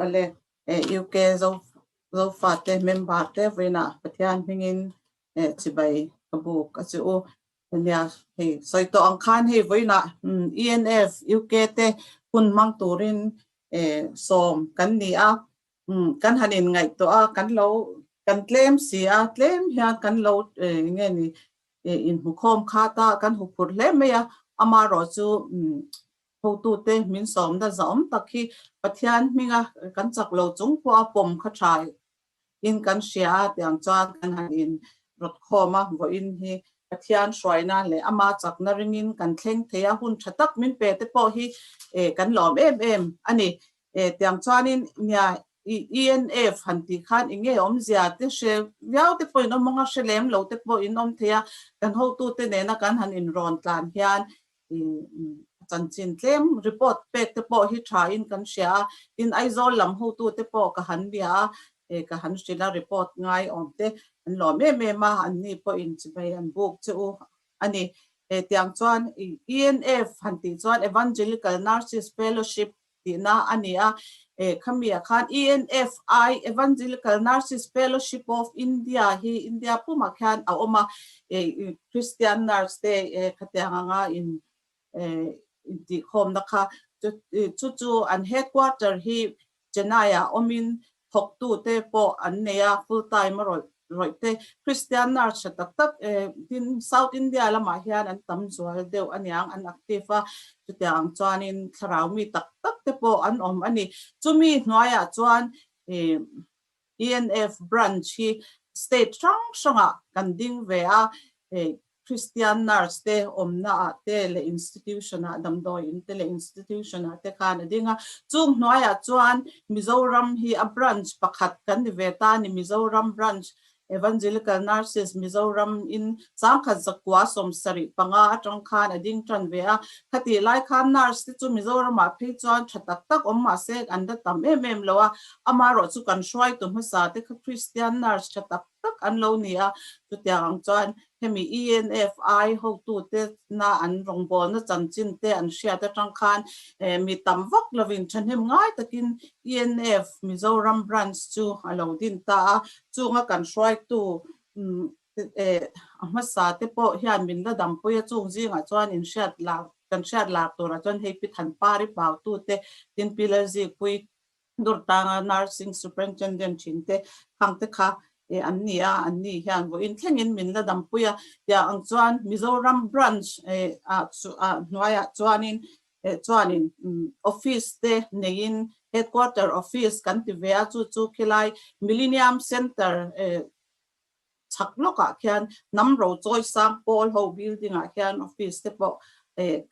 Awle UK Zofate member te vawiina Pathian hmingin chibai ka buk a chu u. Nia hei sawi tawh ang khan hei vawiina ENF UK te hun hmang turin sawm kan ni a, kan han inngaihtuah a, kan lo kan tlem si a, tlem hian kan lo nge ni inhmukhawm khat a, kan huphurh hle mai a, amaherawhchu Hotute, min sawmna za'awm tak hi Pathian hminga kan chak lo chung pawha pawm kha tha in kan hria a tiang chuan kan han in rawt khawm a, vawiin hi Pathian hruaina leh ama chakna ringin kan thleng thei a, hun tha tak min pe te pawh hi kan lawm em em a ni. Tiang chuanin nia i ENF han tih khan i nge awmzia te hre viau te pawhin awm ang a, hre lem lo te pawhin awm theih a, kan hotute nena kan han in rawn tlan hian Tin, a chanchin tlem report pek te pawh hi tha in kan hria a, tin Aizawl lam hotu te pawh ka han bia a, e ka han hrilh a report ngai awm te an lawm em em a, an ni pawh in chi mai an buk che u a ni. Hetiang chuan ENF han tih chuan Evangelical Nurses Fellowship Tihna a ni a. Eh, khami ah khan ENFI, Evangelical Nurses Fellowship of India, hi India pum ah khian a awm a, eh, Kristian nurse te eh khatiang ang a in eh intihkhawmna kha. Chu chu an headquarter hi Chennai ah awm in thawktu te pawh an nei a, full time a rawih rawih te. Kristian nar tha tak tak tin South India lamah hian an tam zual deuh a niang, an active a, chutiang ang chuanin thlarau mi tak tak te pawh an awm a ni. Chumi hnuaiah chuan ENF branch hi state hrang hrangah kan ding ve a, Kristian nurse te awmna ah te leh institution ah damdawi in te leh institution ah te khan a ding a. Chung hnuai ah chuan Mizoram hi a branch pakhat kan ni ve ta a ni, Mizoram Branch Evangelical Nurses Mizoram in sangkhat zakua sawm sarih panga atang khan a ding tan ve a. Khatih lai khan nurse te chu Mizoram ah phei chuan tha tak tak awm mahse an da tam em em lo a, ama rawh chu kan hruaitu hmasa te kha Kristian nurse tha tak tak an lo ni a, chutiang ang chuan hemi ENF ai hotute na an rawngbawlna chanchin te an hriat atang khan mi tam vak lovin thahnem ngai takin ENF Mizoram Branch chu a lo din ta a, chunga kan hruaitu a hmasa te pawh hian min la dampui a, chung zingah chuan in hriat lak kan hriat lak tura chuan hei pi than pari pautute Tinpilerji Pui Dawrtanga Nursing Superintendent thin te phang te kha e an ni a, an ni hian vawiin thlengin min la dampui a, tia ang chuan Mizoram Branch a hnuaiah chuanin chuanin Office te neiin Headquarter Office kan ti ve a, chu chu khilai Millenium Centre chak lawkah khian hnam ro chawi sang pawl ho building ah khian office te pawh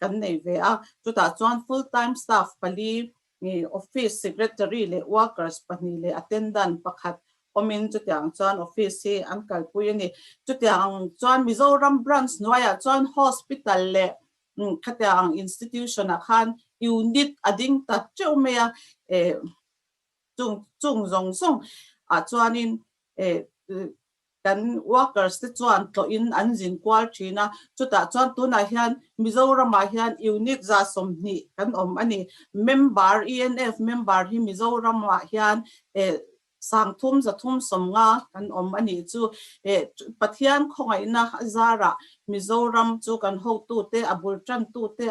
kan nei ve a, chutah chuan full time staff pali, office secretary leh workers pahnih leh attendant pakhat awmin chutiang chuan office hi an kalpui a ni. Chutiang chuan Mizoram branch hnuaiah chuan hospital leh khatiang institution ah khan unit a ding ta teuh mai a. Chung chung zawng zawng ah chuanin kan workers te chuan tlawhin an zin kual thin a, chutah chuan tunah hian Mizoramah hian unit za sawmhnih kan awm a ni. Member, ENF member hi Mizoramah hian sang thum za thum sawm nga kan awm a nih chu. Pathian khawngaihna zarah Mizoram chu kan hotute, a bul tantute,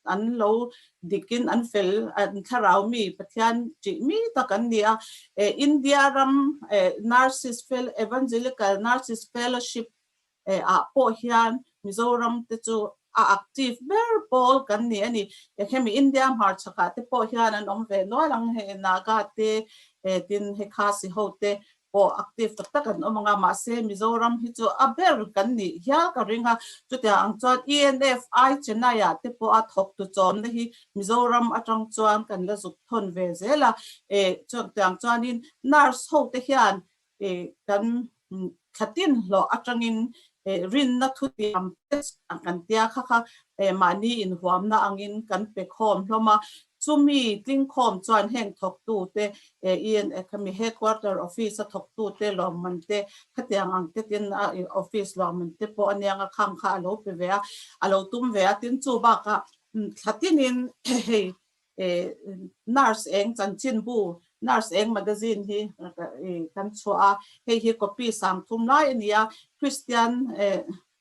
an lo dik in an fel an thlarau mi Pathian ṭih mi tak an ni a, India ram Narcissist fel Evangelical Narcissist Fellowship ah pawh hian Mizoram te chu a active ber pawl kan ni a ni, hemi India hmarchhakah te pawh hian an awm ve nual ang hei Naga te tin he Khasi ho te pawh active tak tak an awm ang a, mahse Mizoram hi chu a ber kan nih hial ka ring a, chutiang ang chuan ENF ai Chennai ah te pawh a thawk tu chawmna hi Mizoram atang chuan kan la zuk thawn ve zel a, chutiang chuanin nurse ho te hian kan thlatin hlawh atangin rinna thutiam test kan tia kha kha he mahni inhuamna angin kan pe khawm hlawm a, chumi tlingkhawm chuan heng thawktute, ian mi headquarter office a thawktute lawmante khatiang ang te tin a office lawmante pawh anianga khang kha a lo pe ve a, a lo tum ve a, tin chu bakah thla tingin hei nurse eng chanchin bu, nurse eng magazine hi kan chhuah a, hei hi copy sang thum lai a ni a, kristian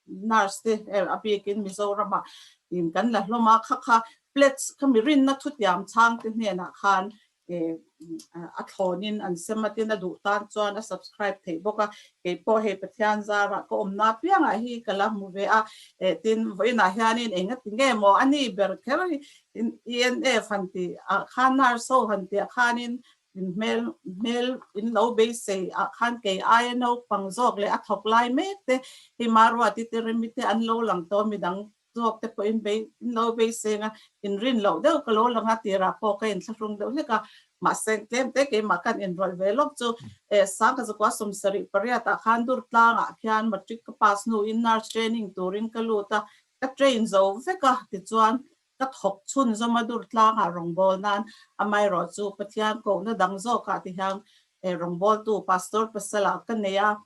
Nurse te er a bik in Mizoram ah in kan la hlawm a, kha kha plates kha mi rinna thutiam chhang te hnen ah khan a thlawn in an sem a, tin a duh tan chuan a subscribe theih bawk a, kei pawh hei Pathian zar ah ka awmna apiang ah hi ka la hmu ve a, eh tin vawiin ah hian in eng a ti nge maw a ni ber kher, i NF han tih ah khan Nurse ho han tih ah khan in In hmel hmel in lo beisei ah khan kei aia naupang zawk leh a thawk lai mek te, hei Marwati te, Rimi te an lo lang tawh a midang zawk te pawhin bei in lo beiseng a, in rin loh deuh ka lo lang a tirah pawh ka inthlahrung deuh hlek a, mahse tlem te keimah kan inrawlh ve lawk chu. Eh, Sangka zakua sum sarih pariat ah khan Durtlang ah khian Matric ka pass hnu in Nurse Training turin ka lut a, ka train zo vek a tichuan Ka thawk chhun Zomadur tlangah rawngbâwl nân amaherawh chu Pathian kohna dang zâwkah tihian rawngbâwltu Pastor pasalah ka nei a,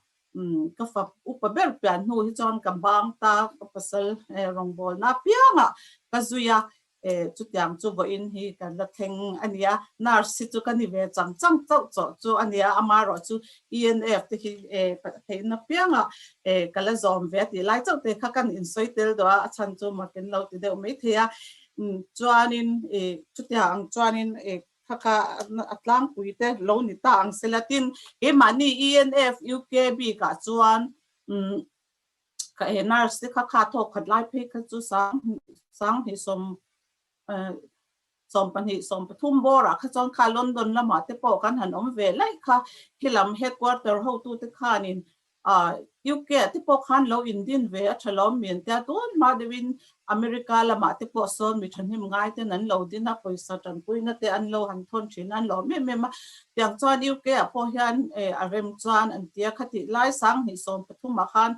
ka fa upa ber pian hnu hi chuan ka bâng ta, ka pasal rawngbâwlna apiangah ka zui a, chutiang chu vawiin hi kan la thleng a nia, nurse hi chu ka ni ve chang chang chauh chauh chu a nia, amaherawh chu ENF te hi theihna pianga ka la zawm ve a tih lai chauh te kha kan insawi tel daw a, a chhan chu ma kan lo ti deuh mai thei a, chuanin chutia ang chuanin kha kha a tlangpui te lo ni ta ang sela tin keimahni ENF UKB kah chuan nurse te kha kha thawk khat lai phei kha chu sang hnih sawm Sawm pahnih sawm pathum bawrah kha chuan kha London lamah te pawh kan han awm ve laih kha, khilam headquarter hotute khanin UK ah te pawh khan lo indin ve a tha lawm mian tia tuan hma deuhin America lamah te pawh sawn mi thahnem ngai ten an lo din a, pawisa tanpuina te an lo han thawn thin a, an lo awm em em a. Tiang chuan UK ah pawh hian a rem chuan an tia khatih lai sang hnih sawm pathumah khan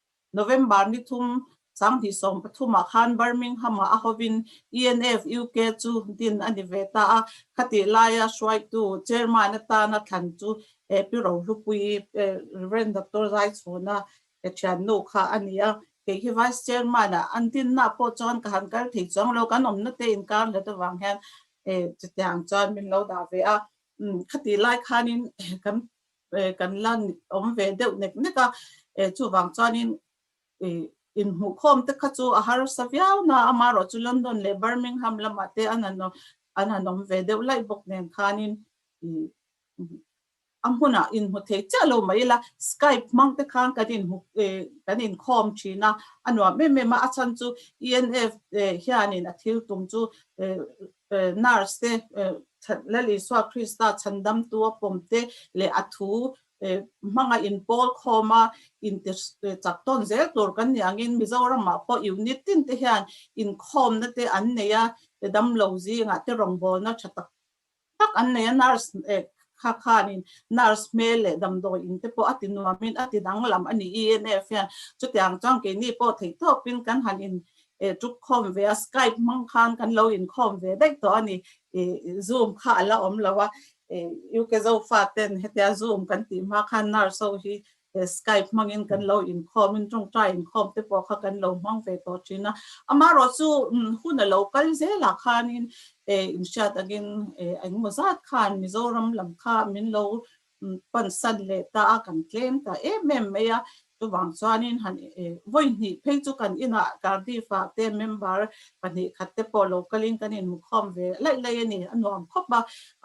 November ni thum sanghnih sawm pathumah khan Birmingham-ah a hovin ENF, UK, chu din a ni ve ta a, khatih laia hruaitu Chairman atana thlan chu Pi Rohlupui, Rev. Doctor Zaichhuna thiannu kha a ni a, kei hi Vice Chairman-a an dinna pawh chuan ka han kal thei chuang lo, kan awmnate inkarnghet avang hian chutiang chuan min lo dah ve a, khatihlai khanin kan kan la awm ve deuh nek nek a, eh chuvang chuanin inhmuhkhawm te kha chu a harsa viau na, amarawh chu London leh Birmingham lamah te an han an han awm ve deuh laih bawk nen khanin a hmunah inhmu thei chiah lo mai ila Skype hmang te khan kan in kan inkhawm thin a, a nuam em em a, a chhan chu ENF te hianin a thil tum chu Nurse te, Lal Isua Krista chhandamtu a pawm te leh a thu hmanga inpawlkhawma intichak tawn zel tur kan nih angin Mizoramah pawh unit tin te hian inkhawmna te an nei a, damlo zingah te rawngbawlna tha tak tak an nei a. Nurse kha khanin nurse hmel leh damdawi in te pawh a tinuamin a tidanglam a ni ENF hian chutiang chuan keini pawh theihtawpin kan han e tuk khawm ve a skype hmang khan kan lo in khawm ve daih tawh a ni e zoom kha a la awm lo a e u ke zofa ten hetia zoom kan tih hma khan nurse ho hi e skype hmang in kan lo in khawm in tawngtai in khawm te pawh kha kan lo hmang ve tawh thin a ama rawh chu hun a lo kal zel ah khan in e in hriat ang in e engmaw zat khan mizoram lam kha min lo Pansan leh ta a kan tlem ta em em mai a, chuvang chuanin han vawi hnih phei chu kan inah Cardiff-a te member pahnih khat te pawh lo kalin kan inmukhawm ve laih laih a ni, a nuam khawp a,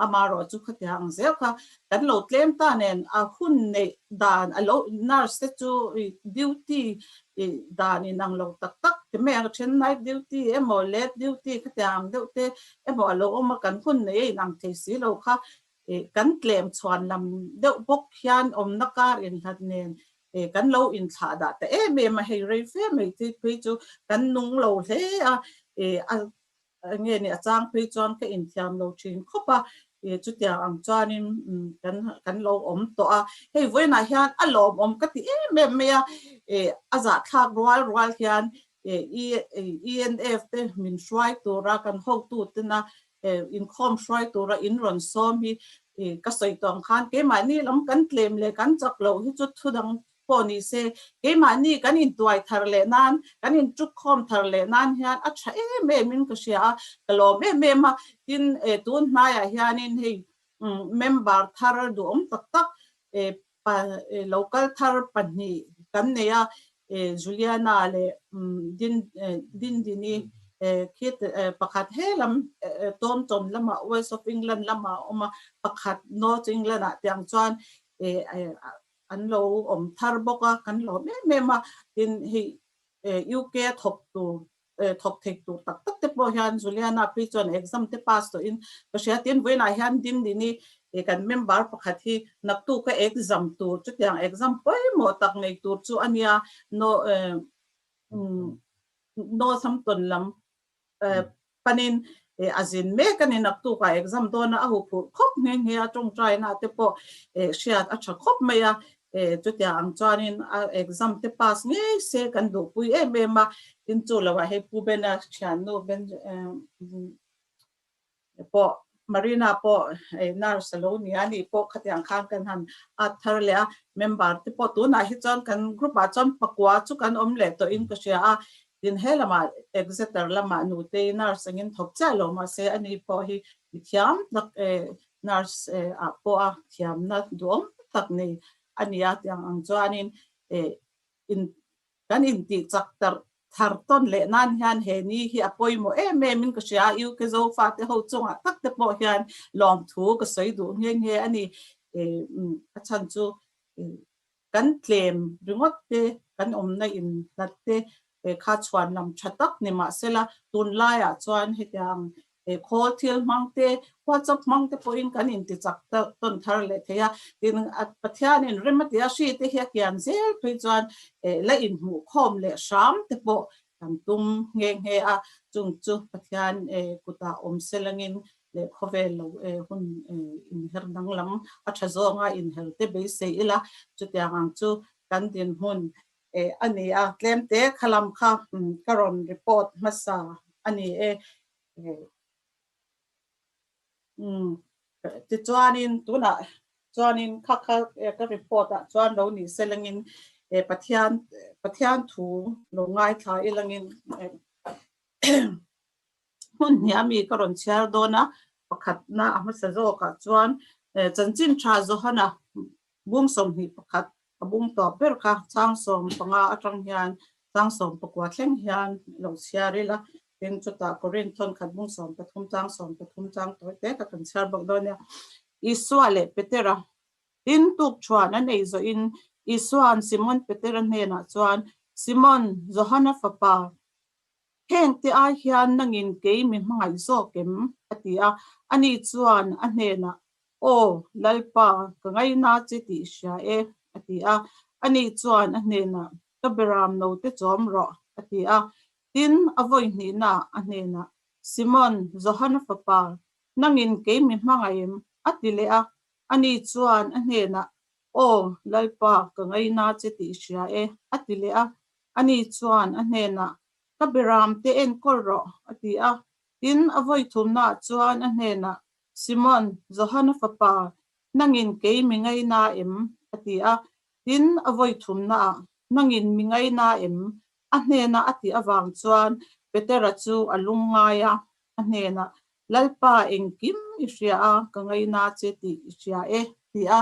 amarawh chu khatia ang zeuh kha kan lo tlem ta nen a hun neih dan a lo nurse te chu duty dan inang lo tak tak ti mai ang a then night duty emaw late duty khatia ang deuh te emaw a lo awm a kan hun nei a inang thei si lo kha eh kan tlem chhuan lam deuh bawk hian awmna kar in hlat nen eh kan lo in thlah dah ta em em a hei rei fe mai te phei chu kan nung lo hle a eh a nge ni a chang phei chuan ka in thiam lo thin khawp a eh chutiang ang chuan in kan kan lo awm tawh a hei vawiinah hian a lawm awm ka ti em em mai a eh a zah thlak rual rual hian eh ENF te min hruai tura kan hotu tena he inkhawm hruai tura in rawn sawm hi ka sawi tawh ang khan keimahni lam kan tlem leh kan chak loh hi chu thu dang pawh ni se, keimahni kan intuai thar leh nan, kan intuk khawm thar leh nan hian a tha em em in ka hria a, ka lawm em em a, tin tunhnai ah hian in hei member thar duhawm tak tak Pa lo kal thar pahnih kan nei a, Juliana leh Dindini khi pakhat he lam Taunton lamah West of England lamah a awm a, pakhat North England ah tiang chuan an lo awm thar bawk a, kan hlawm em em a, tin hei UK a thawk tur thawk theih tur tak tak te pawh hian Juliana Pui chuan exam te pass tawh in ka hria tin vawiin ah hian ding ni ni e kan member pakhat hi naktu ka exam tur chutiang exam pawimawh tak nei tur chu a nia no Northampton lam panin e a zin mek a ni naktu ka exam dawn a a hu phurh khawp nghe nghe a tawngtaina te pawh e hriat a tha khawp mai a E, chutia ang chuanin a exam te pass ngei se kan duhpui em em a, tin chu lo ah hei Pu Bena thiannu Ben e pawh Marina pawh e nurse alo ni a ni pawh khati ang khan kan han at thar leh a, member te pawh tunah hi chuan kan group ah chuan pakua chu kan awm leh tawh in ka hria a, Tin, he lama Exeter lama nute hi nurse angin thawk chiah lo mah se, ani pawh hi mi thiam tak e, nurse e ah pawh a thiamna duhawm tak nei a ni a tiang ang chuanin e in kan intih chak tarh thar tawn leh nan hian he ni hi a pawimawh em em in ka hria a, UK Zofa te ho chungah tak te pawh hian lawmthu ka sawi duh nghe nghe a ni, e a chhan chu e Kan tlem ringawt te, kan awmna in hlat te kha chhuan lam tha tak ni mah sela, tun laiah chuan hetiang khawl thil hmang te, WhatsApp hmang te pawhin kan in tichak tawn thar leh thei a. Tin, Pathianin rem a ti a, hri te hi a kian zel phei chuan la inhmuh khawm leh hram te pawh Kan tum nghe nghe a, chung chu Pathian kutah awm selangin leh khawvel lo hun inher danglam a tha zawnga inher te beisei ila, chutiang ang chu kan dinhmun a ni a, tlem te kha lam kha ka rawn report hmasa a ni e. Tichuanin tunah chuanin kha kha ka report ah chuan lo ni selengin Pathian Pathian thu lo ngaithla i langin hmun hniah mi ka rawn chhiar dawn a, pakhatna a hmasa zawkah chuan chanchin tha Johana Bum sawmhnih pakhat a bum tawp ber kha chang sawm panga atang hian chang sawm pakua thleng hian a lo chhiar ila, tin chutah Korin thawnkhat bum sawm pathum chang sawm pathum chang tawi te kha kan chhiar bawk dawn nia. Isua leh Petera tin tuk chhuan an ei zawhin Isua'n Simon Petera hnenah chuan, Simon, Johana fapa, Heng te ai hian nangin kei mi hmangaih zawk em? a ti a, ani chuan a hnenah Aw, Lalpa, ka ngaihna che ti hria e, a ti a, ani chuan a hnenah Ka beram no te chawm rawh, a ti a, tin a vawi hnihna a hnenah Simon, Johana fapa, nangin kei mi hmangaih em? a ti leh a, ani chuan a hnenah Aw, Lalpa, ka ngaina che tih hria e, a ti leh a. Ani chuan a hnenah, Ka biram te enkawl rawh, a ti a. Tin, a vawi thumnaah chuan a hnenah, Simon, Johana fapa, nangin kei mi ngaina em? a ti a. Tin, a vawi thumnaah, Nangin mi ngaina em? A hnena a tih avang chuan Petera chu a lung ngai a, a hnenah, Lalpa, engkim i hria a, ka ngaina che ti i hria e, ti a.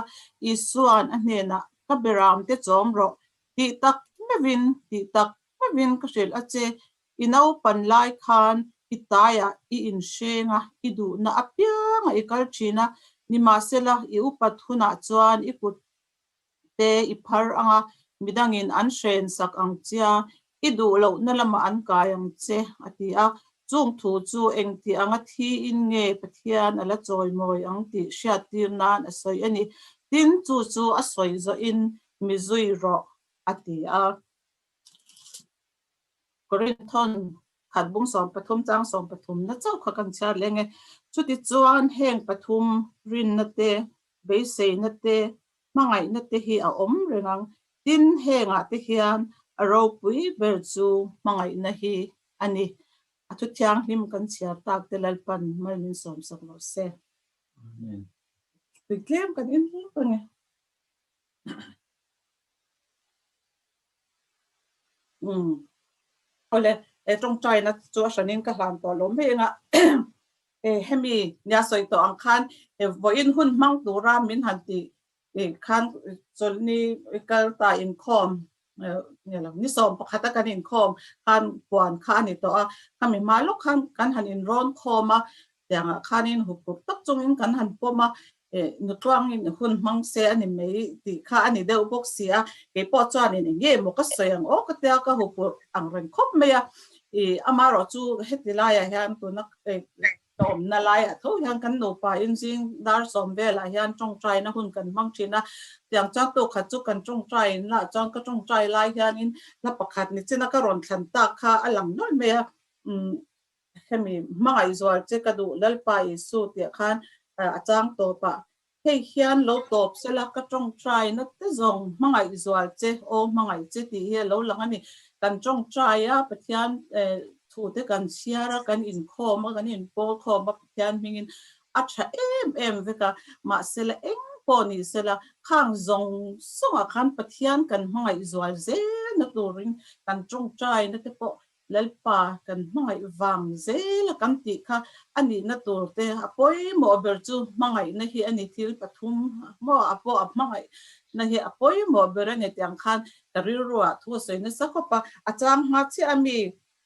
Isua'n a hnenah, Ka beram te chawm rawh, ti tak mevin, ti tak mevin ka hrilh a che, i naupan lai khan i taiah i inhreng a, i duhna apianga i kal thin a, nimahsela, i upat hunah chuan i kut. te i phar ang a, midangin an hren sak ang chia, i duh lohna lama an kai ang che, a ti a. Chung thu chu engti anga thiin nge Pathian a la chawimawi ang tih hriattir nan a sawi a ni. Tin, chu chu a sawi zawhin mi zui rawh, a ti a. Korinthon khatbung sawm pathum chang sawm pathum na chauh kha kan chhiar leh nge. Chutichuan heng pathum rinna te, beiseina te, Hmangaihna te hi a awm reng ang, tin hengah te hian a ropui ber chu hmangaihna hi a ni. A Thu Thianghlim kan chhiar tak te Lalpan mal min sawm sak lo se. Amen. Puitlem kan en hlek a ni. Umm. Awle, he tawngtaina chu a hranin ka hlan tawh loh mai anga he hemi nia sawi tawh ang khan he vawiin hun hmang tura min han ti khan chawlhni kal ta inkhawm nge lo, ni sawm pakhata kan inkhawm khan puan kha a ni tawh a, khami hma lawk khan kan han inrawn khawm a, Tiangah khanin huphurh tak chungin kan han pawm a, eh, Nutluangin hun hmang se a ni mai tih kha a ni deuh bawk si a, keipawh chuanin engge maw ka sawi ang awk a tia ka huphurh ang reng khawp mai a, ih, ama rawh chu heti laiah hian tuna ka awmna laiah tho hian kan nupain zing dar sawm velah hian tawngtaina hun kan hmang thin a, tiang chuan tu khat chu kan tawngtain lah chuan ka tawngtai lai hianin hla pakhat ni china ka rawn thlan tak kha a lang nuaih mai a, umm. Hemi hmangaih zual che ka duh Lalpa Isu tih khan a chang tawp a, hei hian lo tawp se la, ka tawngtai nate zawng hmangaih zual che aw hmangaih che tih hi a lo lang a ni. Kan tawngtai a Pathian thu te kan chhiar a, kan inkhawm a, kan inpawl khawm a Pathian hmingin a tha em em vek a, mahse la eng pawh nih se la khang zawng zawngah khan Pathian kan hmangaih zual zel na turin kan tawngtai nate pawh Lalpa kan hmangaih vang zel a kan tih kha a nihna tur te a pawimawh ber chu hmangaihna hi a ni. Thil pathum maw a pawh a hmangaihna hi a pawimawh ber a ni tih ang khan ka rilruah thu a sawi nasa khawp a. A chang hma chiah a mi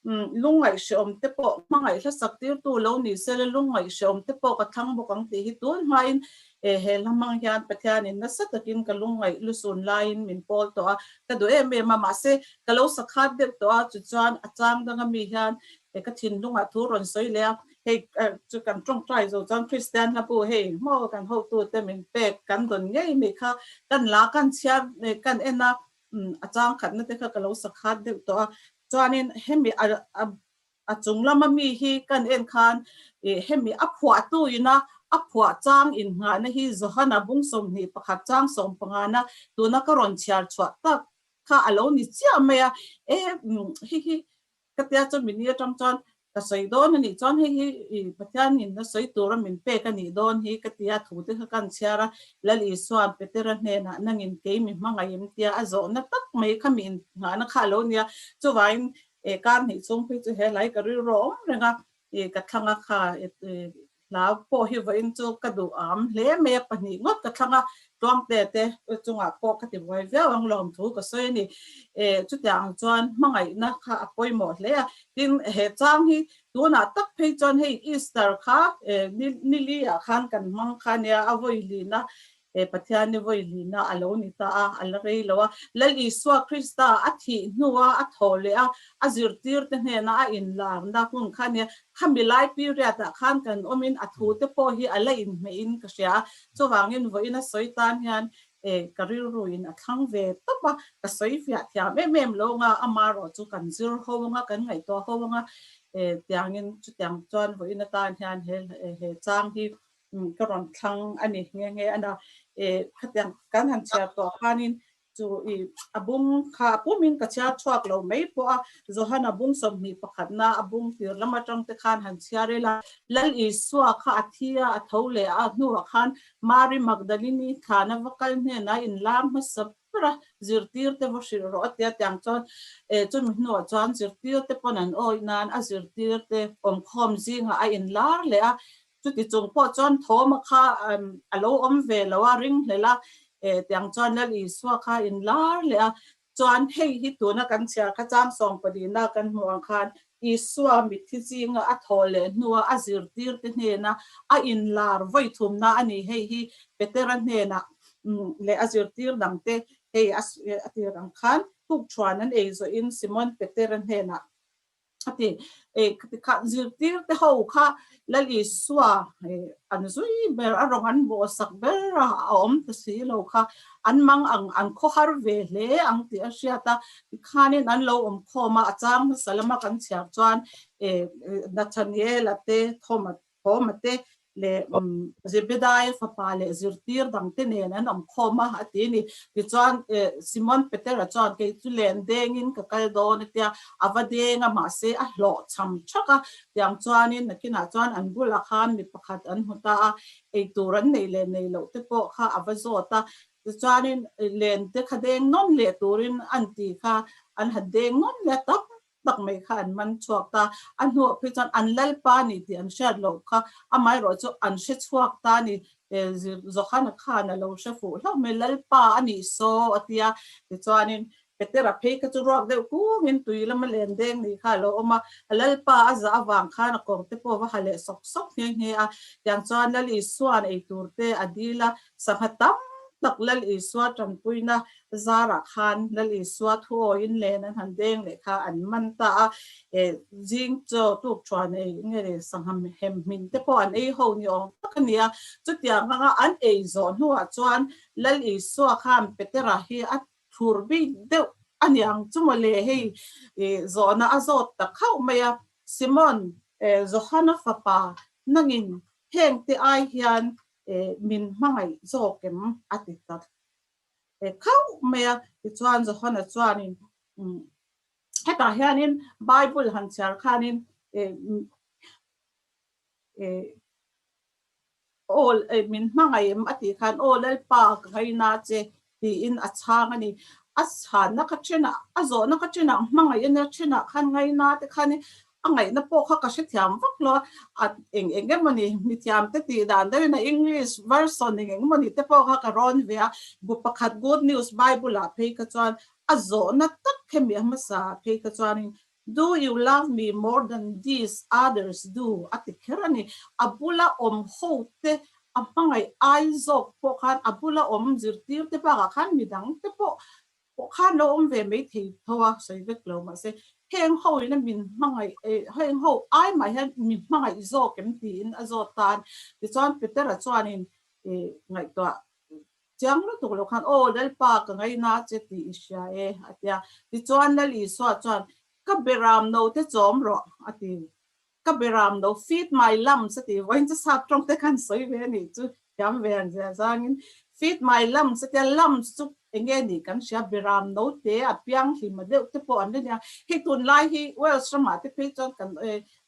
lungngaih hrehawm te pawh hmangaih hlasak tirtu lo ni sela lungngaih hrehawm te pawh ka thlang bawk ang tih hi tun hmain He he hlamang hian Pathianin nasa takin ka lungngaih lu sun laiin min pawl tawh a, ka duh em em a, mahse, ka lo sakhat deuh tawh a, chuchuan a chang danga mi hian he ka thinlungah thu rawn sawi leh a. Hei chu kan tawngtai zo chuan Kristian hlabu hei maw kan hotute min pek kan dawn ngei mai kha, kan la kan chhia kan en a, a chang khatna te kha ka lo sakhat deuh tawh a, chuanin hemi a A chung lama mi hi kan en khan ih hemi a phuahtu ina a phuah chang inngahna hi Johana bung sawmhnih pakhat chang sawmpangana tuna ka rawn chhiar chhuah tak kha a lo ni chiah mai a, e hi hi ka tia chu min i atang chuan ka sawi dawn a nih chuan hei hi i Pathianin na sawi tura min pek a nih dawn hi ka tia thu te kha kan chhiar a, Lal Isuan Petera hnenah nangin kei mi hmangaih em tia a zawhna tak mai kha miin nghahna kha a lo ni a, chuvangin E ka hnih chung khi chu he hlai ka rilru awm reng a, e ka thlang a kha, e hla pawh hi vawiin chu ka duh âwm hle mai a, pahnih ngawt ka thlang a, Tluangte te chungah pawh ka tibuai viau ang lawm thu ka sawi a ni. E chutiang ang chuan hmangaihna kha a pawimawh hle a, tin he chang hi tunah tak phei chuan hei Easter kha e nili ah khan kan hmang kha nia, a vawi lihna He Pathian i vawihlihna a lo ni ta a, a la rei lo a. Lal Isua Krista a thih hnua a tho leh a, a zirtirte hnena a inlakna hun kha a ni a. Khami lai period ah khan kan awmin a thu te pawh hi a la inhmeh in ka hria a. Chuvangin vawi na sawi tan hian eh, ka rilru in a thlang ve tawp a, ka sawi fiah thiam em em lo ang a, ama erawh chu kan zir ho ang a, kan ngaihtuah ho ang a eh, tiangin chutiang chuan vawi na tan hian he chang hi Ka rawn thlang a ni nghe nghe a na. E, khatiang kan han chhiar tawh khanin chu i a bung kha a pumin ka chhiar thuak lo mai pawh a, Johan a bung sawmhnih pakhatna a bung tir lam atang te khan han chhiar ila, Lal Isua kha a thi a, a tho leh a, a hnuah khan Mari Magdalini thlana va kal hnenah in lam hmasa ber a, zirtirte va hrilh rawh a tia tiang chuan e chumi hnuah chuan zirtirte pawn an awih nan a zirtirte awmkhawm zingah a in lar leh a, Chuti chung pawh chuan thawma kha a lo awm ve lo a, ring hlel a, eh tiang chuan Lal Isua kha in lar leh a. Chuan hei hi tuna kan chhiar kha chang sawng pahnihnaa kan hmuh ang khan Isua mitthi zinga a thaw leh hnua a zirtirte hnena a in lar vawithumna a ni. Hei hi Petera hnenah leh a zirtir dangte hei a tir ang khan, thuk thuan an ei zawhin Simon Petera hnenah a ti. Eh, ka tikhan zirtirte ho kha Lal Isua an zui ber a rawn an bawhsak ber a a awm ta si lo kha an mang ang an khawhar ve hle ang tih a hriat a, tikhanin an lo awm khawm a, a chang nasa lama kan chhiar chuan eh Nathaniela te Thomas Thawma te leh Zebedai-a fapa leh zirtir dangte nen an awm khawm a, a ti a ni. Tichuan Simon Peter-a chuan, Kei chu len dengin ka kal dawn a tia, a va deng a mahse a hlawh chham chak a. Tiang chuanin nakinah chuan an bulah khan mi pakhat an hmu ta a, eitur an neih leh neih loh te pawh kha a va zawt a. Tichuanin lente kha deng nawn leh turin a han ti kha an han deng nawn leh a tam tak mai kha an man chhuak ta, a hnawh phei chuan an lalpa a ni tih an hriat loh kha, amah erawh chu an hre chhuak ta a ni, Jokhana khan a lo hre fuh hlauh mai, lalpa a ni saw a ti a, tichuanin Petera phei kha chu ruak deuh kungin tui lama len deng ni kha a lo awm a, a lalpa a za avang khan a kawngte pawh va ha leh sawk sawk nghe nghe a, tiang chuan Lal Isua'n ei turte a dil a, Sangha tam tak Lal Isua tangpuina zarah khan Lal Isua thuawiin len an han deng leh kha an man ta a, eh zing chaw tuk thuan ei nge ri sangha hem hmin te pawh an ei ho ni awm tak a ni a. Chutiang hmanga an ei zawh hnuah chuan Lal Isua khan Petera hi a thur bik deuh a ni ang chu maw le hei ih zawhna a zawt tak hauh mai a, Simon, eh Johana fapa, nangin hengte ai hian E min hmangaih zawk em? a ti ta e khauh mai a. Tichuan Johana chuanin, Umm, hetah hianin Bible han chhiar khanin e e aw, e min hmangaih em? a tih khan, Aw, Lalpa, ka ngaihna che, Tiin a chhang a ni. A sanna ka ṭhena, a zawhna ka ṭhena, hmangaih a nia ṭhena khan ngaina te khan hi a ngaihna pawh kha ka hrethiam vak lo a. A eng eng emaw ni, mithiamte tih dan deuh in a English version eng eng emaw ni te pawh kha ka rawn ve a. Bu pakhat Good News Bible-ah phei kha chuan a zawhna tak hemi a hmasa phei kha chuanin Do you love me more than these others do? a ti kher a ni. A bula awm ho te, a hmangaih ai zawk pawh khan, a bula awm zirtir te bakah khan midang te pawh pawh khan lo awm ve mai thei tho a sawi vek lo. Mahse, heng ho ina min hmangaih e, heng ho ai mah hian min hmangaih zawk em? tiin a zawt tan. Tichuan Petera chuanin, I ngaihtuah Chiang lutuk lo khan, Aw, Lalpa, ka ngaih na che tih i hria e, a ti a. Tichuan Lal Isua chuan, Ka be ram no te chawm rawh, a ti. Ka be ram no, feed my lambs, a ti. Vawiin chu sap tawng te khan sawi ve a nih chu, thiam ve ang zia zangin, feed my lambs, a ti a. Lambs chu eng nge nih kan hria, be ram no te a pianghlim a deuh te pawh an la nia. Hei tunlai hi Wales ramah te phei chuan kan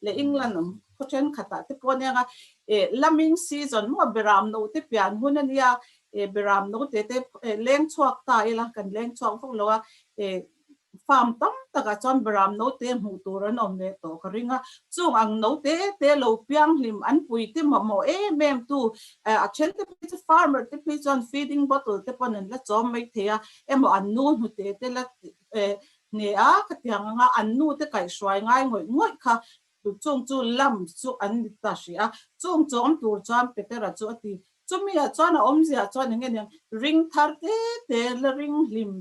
leh England awm khaw thenkhatah te pawh a ni ang a, eh laming season maw a beram note pian hun a nia, eh beram note te eh leng chhuak ta ila kan leng chhuak vawk lo a, eh farm tam takah chuan beram note hmuh tur an awm leh tawh ka ring a, chung ang note te lo piang hlim an pui te mawh mawh em em tu eh a then te pawh chu farmer te pawh hi chuan feeding bottle te pawn an la chawm mai thei a, emaw an nu hnute te la eh Hne a ka ti ang anga an nu te kaih hruai ngai ngawih ngawih kha tut chung chu lam chu an ni ta hria chung chu awm tur chuan Peter a chu a ti chumi ah chuan a awm ziah chuan eng nge niang ring thar te te la ring hlim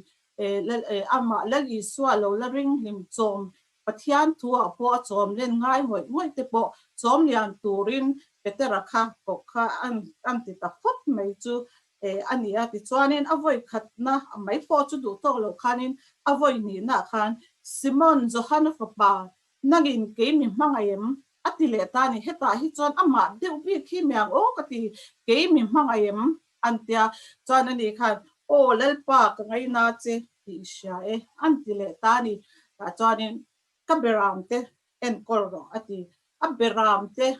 e la e amah lal Isua lo la ring hlim chawm Pathian thu ah pawh a chawm len ngai ngawih ngawih te pawh chawm lian turin Peter a kha kawh kha an an ti ta phawt mai chu Te a ni a, tichuanin a vawi khatna mai pawh chu duh tawk lo khanin a vawi nihnaah khan, Simon, Johana fapa, nangin kei mi hmangaih em? a ti leh ta a ni. Hetah hi chuan amah deuh bik hi mi ang aw ka ti, kei mi hmangaih em? an ti a. Chuan ani khan, Aw, Lalpa, ka ngaih na che, tih hria e, an ti leh ta a ni. Tah chuanin, Ka berang te, enkawl rawh a ti. A Beram te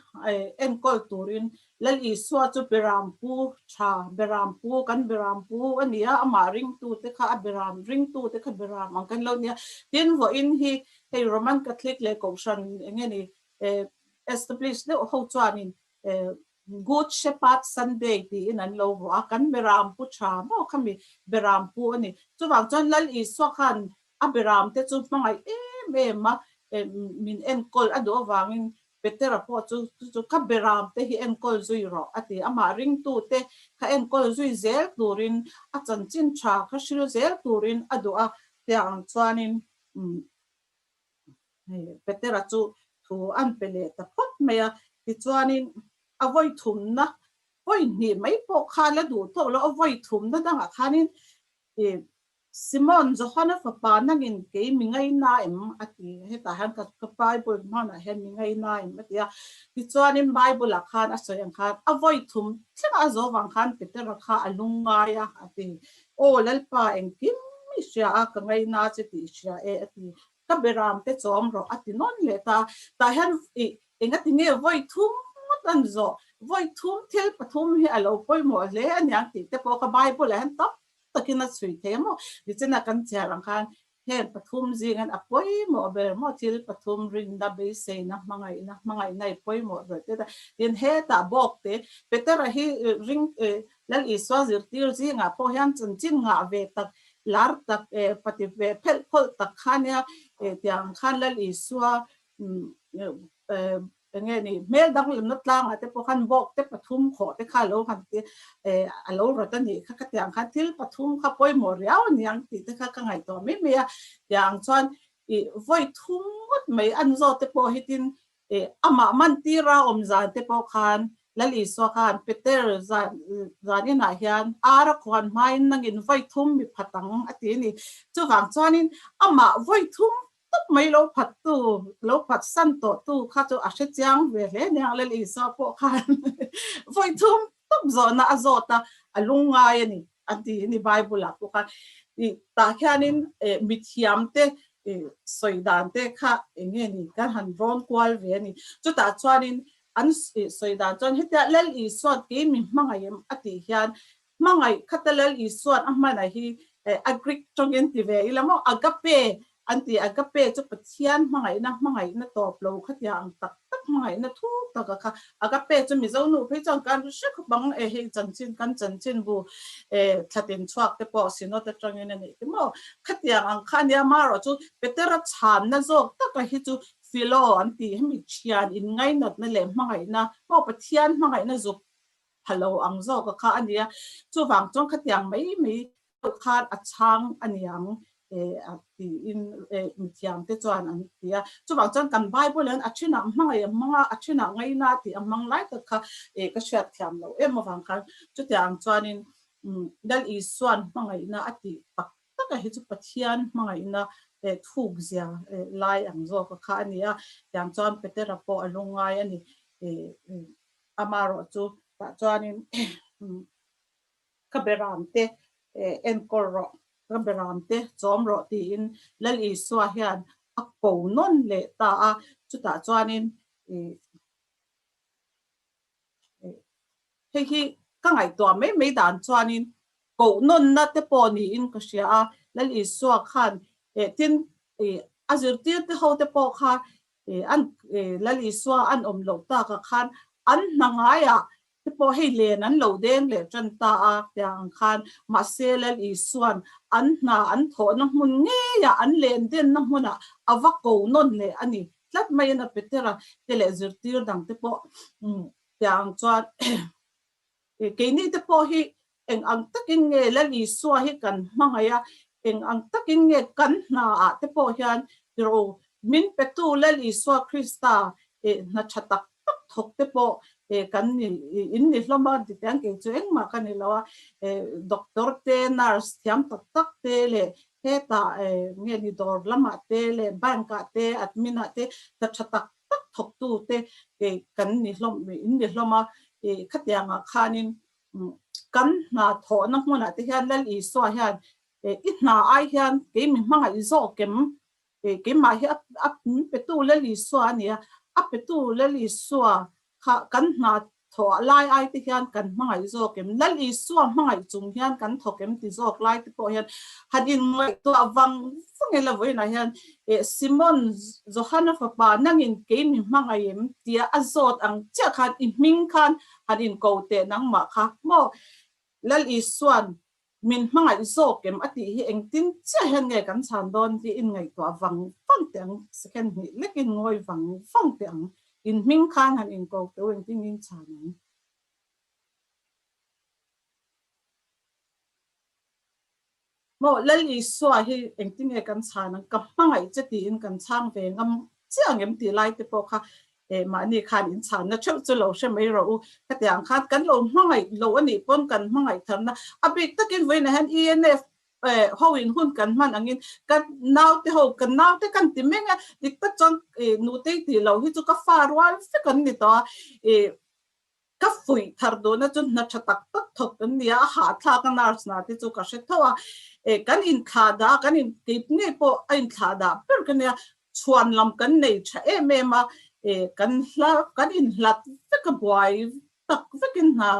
enkawl turin Lal Isua chu Beram pu tha, Beram pu, kan Beram pu a nia, amah ringtu te kha a Beram, ringtu te kha Beram ang kan lo nia. Tin vawiin hi hei Roman Catholic leh Kohhran eng nge ni establish deuh ho chuanin Good Shepherd Sunday tiin an lo vuah a, kan Beram pu tha maw kha mi Beram pu a ni. Chuvang chuan Lal Isua khan a Beram te chu hmangaih em em a min enkawl a duh avangin Petera pawh chu chu chu ka Beram te hi enkawl zui rawh a ti. Amah ringtu te kha enkawl zui zel turin a chanchin tha kha hrilh zel turin a duh a tiang chuanin Hei Petera chu thu an pe leh ta phawt mai a, tichuanin a vawi thumna point hnih mai pawh kha la duh tawh lo, a vawi thumna dangah khanin i Simon, Johana fapa nangin kei mi ngai na em? a ti. Hetah hian ka ka Bible hmanah hian mi ngai na em? a ti a, tichuanin Bible ah khan a sawi ang khan a vawi thum thlengah a zawh vang khan Petera kha a lungngai a, a ti. Aw Lalpa engkim i hria a, ka ngaih na che tih i hria e a ti. Ka beram te chawm rawh a ti nawn leh ta. Tah hian i enga ti nge vawi thum ngawt an zawh, vawi thum thil pathum hi a lo pawimawh hle a niang tih te pawh kha Bible ah hian tam takin a chhui thei maw. Tichuan a kan chiar ang khan Heng pathum zingin a pawimawh ber maw? Thil pathum rinna, beiseina, hmangaihna, hmangaihna i pawimawh ber teh ta. Tin, hetah bawkte Petera hi ring Lal Isua zirtir zingah pawh hian chanchin ngah ve tak, lar tak, pati ve phelh phawlh tak khania tiang khan Lal Isua Eng nge ni? Hmel danglamna tlangah te pawh khan bawk te pathum khawh te kha lo han ti a lo rawt a nih kha ka tiang khan thil pathum kha pawimawh riau a ni ang tih te kha ka ngaih tawh mai mai a, tiang chuan ih vawi thum ngawt mai an zawt te pawh hi tin ih amah man tir a awm zan te pawh khan Lal Isua khan Peter zan zan inah hian ar a khuan hmain nangin vawi thum mi phat ang a ti a ni, chuvang chuanin amah vawi thum tak mai lo phattu, lo phatsan tawhtu kha chu a hre chiang ve hle nia, Lal Isua pawh khan vawi thum tawp zawhna a zawt a, a lung ngai a ni, a ti a ni Bible-ah pawh khan. I tah khianin mithiam te sawi dan te kha eng nge ni kan han rawn kual ve a ni. Chutah chuanin an sawi dan chuan hetia Lal Isuan kei min hmangaih em a tih hian Hmangaih khata Lal Isua'n a hmanah hi a Greek tawngin ti ve i la maw? A ga pe an ti. A ga pe chu Pathian hmangaihna, hmangaihna tawp lo kha tia ang tak tak, hmangaihna thuk tak a kha. A ga pe chu Mizo nu phei chuan kan ru hre khawp ang e, hei chanchin kan chanchin bu e, thlatin chhuak te pawh Synod atangin a nih te maw? Kha tia ang kha a nia. Marawh chu Petera chhanna zawk taka hi chu Philo an ti, hemi thian inngainawtna leh hmangaihna, maw Pathian hmangaihna zuk Pha lo ang zawka kha a nia. Chuvang chuan khatiang mai mai deuh khan a chhang a niang e a tiin mithiamte chuan an ti a. Chuvang chuan kan Bible in a thinah hmangaih a hmang a, a thinah ngaina tih a hmang lai tak kha e ka hriatthiam lo em avang khan chutia ang chuanin Lal Isua'n hmangaihna a tih tak taka hi chu Pathian hmangaihna e thukzia e lai ang zawka kha a nia. Tiang chuan Petera pawh a lungngai a ni e. Ama erawh chu tah chuanin ka be ram te enkawl rawh, ka be ram te chawm rawh tiin Lal Isua hian a ko nawn leh ta a. Chutah chuanin hei hi ka ngaihtuah mai mai dan chuanin ko nawnna te pawh niin ka hria a. Lal Isua khan tin a zirtirte ho te pawh kha E an e Lal Isua an awm loh tak ah khan an hna ngai ah te pawh hei len an lo deng leh tan ta a tiang ang khan mahse Lal Isuan an hna an thawh na hmun ngei ah an len den na hmun ah a va ko nawn leh a ni tlat mai in a pe ter a te leh zirtir dang te pawh tiang ang chuan He keini te pawh hi eng ang takin nge Lal Isua hi kan hmangaih a, eng ang takin nge kan hna ah te pawh hian tiro min petu Lal Isua Krista hna tha tak tak thawk te pawh kan ni in ni hlawm a, ti tiang kei chu engmah ka ni lo a, doctor te, nurse thiam tak tak te leh hetah nge ni dawr lamah te leh bank ah te admin ah te hna tha tak tak thawktu te kan ni hlawm, in ni hlawm a, khatianga khanin kan hna thawhna hmunah te hian Lal Isua hian i hna ai hian kei mi hmanga i zawh kem, keimah hi a petu Lal Isua a nia, a petu Lal Isua kha kan hna Thawh lai ai te hian kan hmangaih zawk em? Lal Isua hmangaih chung hian kan thawk em ti zawk lai te pawh hian han inngaihtuah vang vang e. Lavawiinah hian, Eh, Simon, Johana fapa, nangin kei mi hmangaih em? tia a zawt ang chiah khan i hming khan han inko teh nangmah kha maw? Lal Isua'n Min hmangaih zawk em a tih hi engtin chiah hian nge kan chhan dawn tih in ngaihtuah vang vang teh ang, second hnih lek in ngawi vang vang teh ang, in hming khan han inkawk teh u engtin in chhan ang. Maw Lal Isua hi engtin nge kan chhan ang, ka hmangaih che tiin kan chhang ve ngam chiah ang em tih lai te pawh kha Keimahni khan in chhanna theuh chu lo hre mai rawh u, hetiang ang khan kan lo hmangaih loh a nih pawn kan hmangaih tharna a bik takin vawiinah hian ENF ho in hun kan hman angin ka naute ho ka naute kan ti meng a, dik tak chuan Nutei tih loh hi chu ka fa rual fek an ni tawh a, Ka fuih thar duhna chu hna tha tak tak thawt an ni a, a hahthlak a nurse na te chu ka hre thauh a, eh kan in thla dah kan in keip ngei pawh a in thla dah ber ka nia, chhuan lam kan nei tha em em a, eh kan hla kan in hlat vek a buai tak vek in hna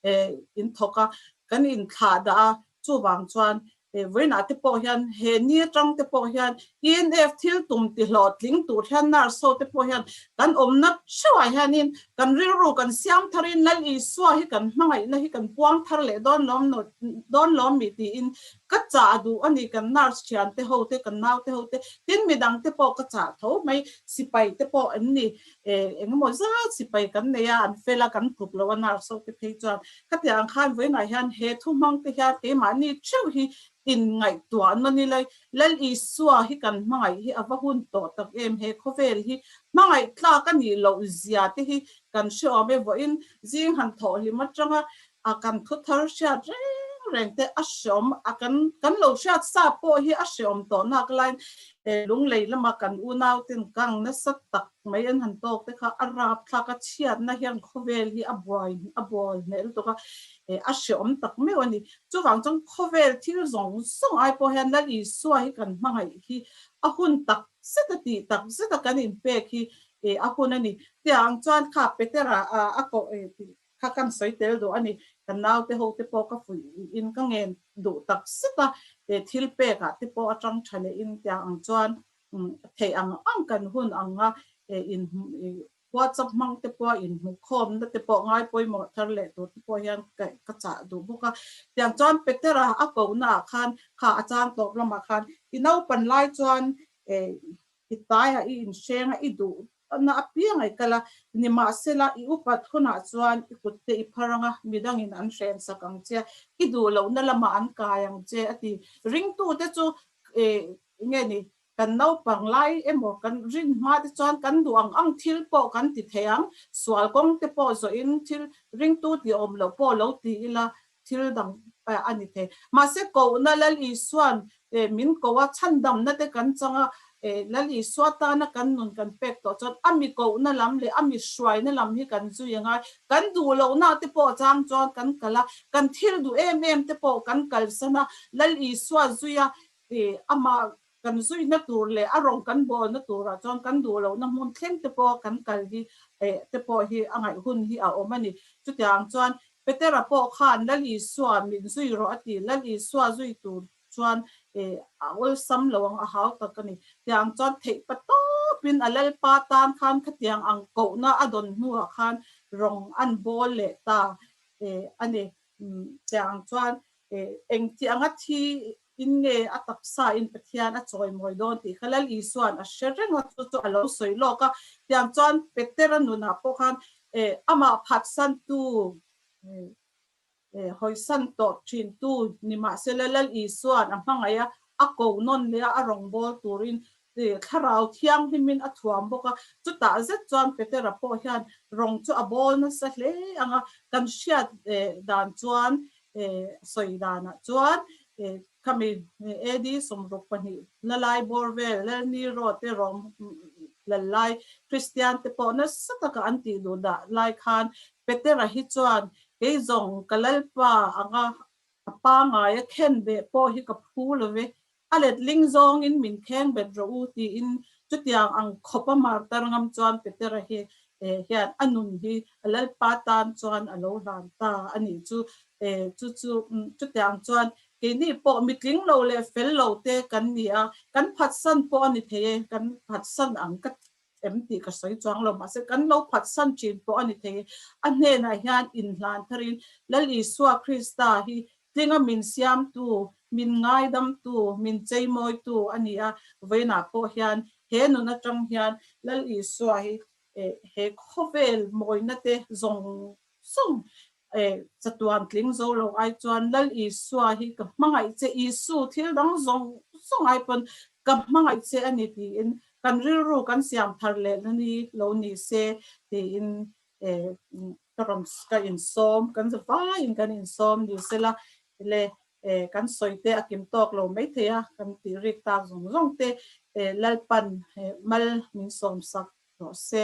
eh in thawk a, kan in thla dah a chuvang chuan He vawiinah te pawh hian, he ni atang te pawh hian, ENF thil tum tihlawh tling tur hian Nurse-ho te pawh hian kan awmna theuhah hianin kan rilru kan siam tharin Lal Isua hi kan hmangaihna hi kan puang thar leh dawn lawm no dawn lawm ni tiin ka chah a duh a ni kan Nurse thiante ho te kan naute ho te tin midang te pawh ka chah tho mai sipai te pawh an ni E, engemaw zat sipai kan nei a, an fel a, kan tluk lo a nar sauh te phei chuan. Khatiang ang khan vawiinah hian he thu hmang te hian keimahni theuh hi inngaihtuah an mani lai. Lal Isua hi kan hmangaih hi a va hun tawh tak em, he khawvel hi hmangaih tlak a nih loh zia te hi kan hreawm e vawiin zing han thawh hlim atanga A kan thu thar hriat reng reng te a hreawm a kan kan lo hriat sa pawh hi a hreawm tawh nak lain he lunglei lama kan unau ten kang nasa tak mai an han tawk te kha a rap thlak a chhiat na hian khawvel hi a buai a bawl hmel tuk a he a hreawm tak meuh a ni chuvang chuan khawvel thil zawng zawng ai pawh hian lal isua hi kan hmangaih hi a hun tak zet a tih tak zet a kan in pek hi a hun a ni tia ang chuan kha Petera a a ko kha kan sawi tel duh a ni. Ka naute ho te pawh ka fuih in ka ngen duh tak zet a, he thil pek ah te pawh atang tha leh in tiang ang chuan theih ang ang kan hun ang a, he in whatsapp hmang te pawh a in hmu khawm na te pawh ngai pawimawh thar leh tur te pawh hian ka chah duh bawk a. Tiang chuan Peter a a ko na ah khan kha a chang tawp lam ah khan i naupan lai chuan i taia i in hreng a i duh Patna apianga i kal a, nimahsela, i upat hunah chuan i kutte i phar ang a, midangin an hren sak ang che, i duh lohna lamah an kai ang che a ti. Ringtute chu, Eng nge ni, kan naupang lai emaw kan rin hmate chuan kan duh ang ang thil pawh kan ti thei ang, sual kawngte pawh zawhin thil ringtu tih a awm loh pawh lo ti ila, Thil dang a ni thei. Mahse, kohna Lal Isua'n min koh a, chhandamna te kan chang a, Lal Isua tana kan nun kan pek tawh chuan a mi kohna lam leh a mi hruaina lam hi kan zui a ngai. Kan duh lohna te pawh chang chuan kan kal a, kan thil duh em em te pawh kan kalsan a, Lal Isua zuia amah Kan zuihna tur leh a rawn kan bawlna turah chuan kan duh lohna hmun thleng te pawh kan kal hi eh te pawh hi a ngaih hun hi a awm a ni. Chutiang chuan Petera pawh khan Lal Isua min zui rawh a ti. Lal Isua zui tur chuan eh a awlsam lo ang, a hau tak a ni. Tiang chuan theih pa tawp in a Lalpa tan khan khatiang ang kohna a dawn hnuah khan rawn an bawl leh ta eh a ni. Tiang chuan eh engtianga thi Tin nge a taksa in Pathian a chawimawi dawn tih kha Lal Isua'n a hre reng a, chu chu a lo sawi lawk a. Tiang chuan Petera nunah pawh khan eh amah phatsantu eh eh hawisan tawh thintu nimahsela Lal Isua'n a hmangaih a, a ko nawn leh a, a rawngbâwl turin tih Thlarau Thianghlimin a thuam bawk a, chutah zet chuan Petera pawh hian rawng chu a bawl nasa hle ang a, kan hriat dan chuan sawi danah chuan khami AD. sawmruk pahnih lalai bawr vel lal Nero te rawng lal lai Kristian te pawh nasa taka an tih duh dah lai khan Petera hi chuan kei zawng ka lalpa anga a pangai a khen beh pawh hi ka phu love A let ling zawngin min kheng bet rawh u tiin chutiang ang khawpa martar ngam chuan Petera hi hian a nun hi a lalpa tan chuan a lo hlan ta a nih chu. Chu chu chutiang chuan keini pawh mitling lo leh fel lo te kan ni a, kan phatsan pawh a ni thei e, kan phatsan ang ka ti. Em tih ka sawi chuang lo, mahse kan lo phatsan thin pawh a ni thei. A hnenah hian inhlan pharin, Lal Isua Krista hi tlinga min siamtu, min ngaidamtu, min cheimawitu a ni a, vawiinah pawh hian he nun atang hian Lal Isua hi he khawvel mawina te zawng zawng Hei chatuan tling zo lo ai chuan Lal Isua hi ka hmangaih che, Isu thil dang zawng zawng ai pawn ka hmangaih che a ni tiin kan rilru kan siam thar leh na ni lo ni se tiin ka rawn ka insawm, kan za vaiin kan insawm ni se la le kan sawite a kim tawk lo mai thei a, kan tih rik tak zawng zawng te Lalpan mal min sawmsak hlawh se.